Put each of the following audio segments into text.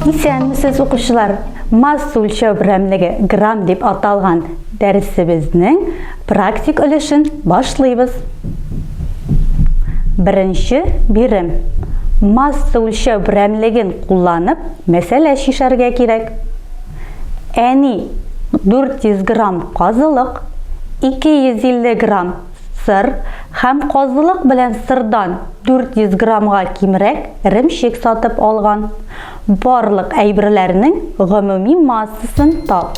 Исәнмесез, укучылар! Масса үлчәү берәмлеге грамм дип аталган дәресебезнең практик өлешен башлыйбыз. Беренче бирем. Масса үлчәү берәмлеген кулланып, мәсьәлә чишәргә кирәк. Әни, 400 грамм казылык, 250 грамм сыр һәм казылык белән сырдан 400 граммга кимрәк ремчек сатып алган. Барлык әйберләрнең гомуми массасын тап.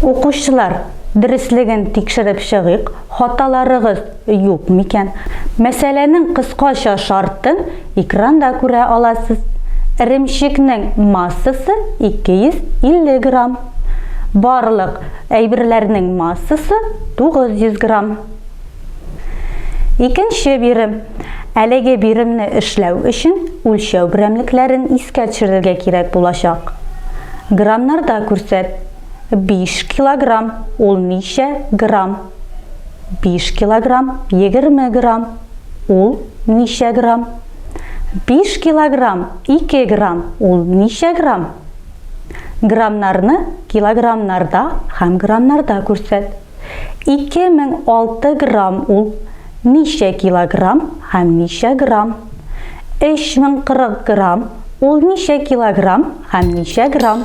Укучылар, дөреслеген тикшереп чыгыйк, хаталарыгыз юк микән? Мәсьәләнең кыскача шартын экранда күрә аласыз. Эремчекнең массасы 250 грамм. Барлык әйберләрнең массасы 900 грамм. Икенче бирем. Әлеге биремне эшләү өчен үлчәү берәмлекләрен искә төшерергә кирәк булачак. Граммнарда күрсәт. 5 килограмм, ул ничә грамм? 5 килограмм, 20 грамм, ул ничә грамм? 5 килограмм, 2 грамм, ул ничә грамм? Граммнарны килограммнарда һәм граммнарда күрсәт. 2006 грамм ул ничә килограмм һәм ничә грамм? 3040 грамм ул ничә килограмм һәм ничә грамм?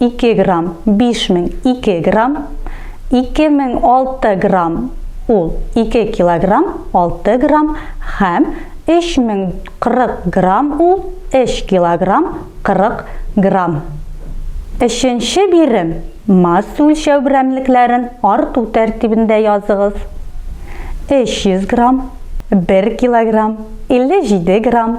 Ике грамм, биш мең, ике грамм, ике мең алты грамм, ул ике килограмм, алты грамм, һәм өч мең кырык грамм, ул өч килограмм, кырык грамм. Өченче бирем, масса үлчәү берәмлекләрен арту тәртибендә языгыз. Өч йөз грамм, бер килограмм, илле җиде грамм,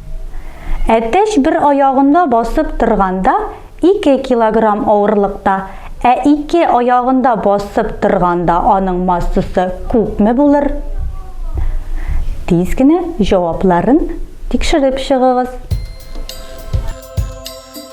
Әтәч бер аягында басып торганда 2 килограмм авырлыкта, ә ике аягында басып торганда аның массасы күпме булыр? Тиз генә җавапларын тикшереп чыгыгыз.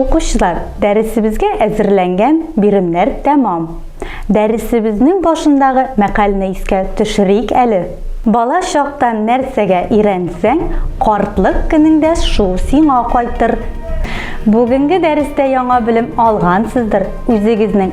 Укучылар, дәресебезгә әзерләнгән биремнәр тәмам. Дәресебезнең башындагы мәкальне искә төшерик әле. Бала чактан нәрсәгә өйрәнсәң, картлык көнеңдә шул сиңа кайтыр. Бүгенге дәрестә яңа белем алгансыздыр, үзегезнең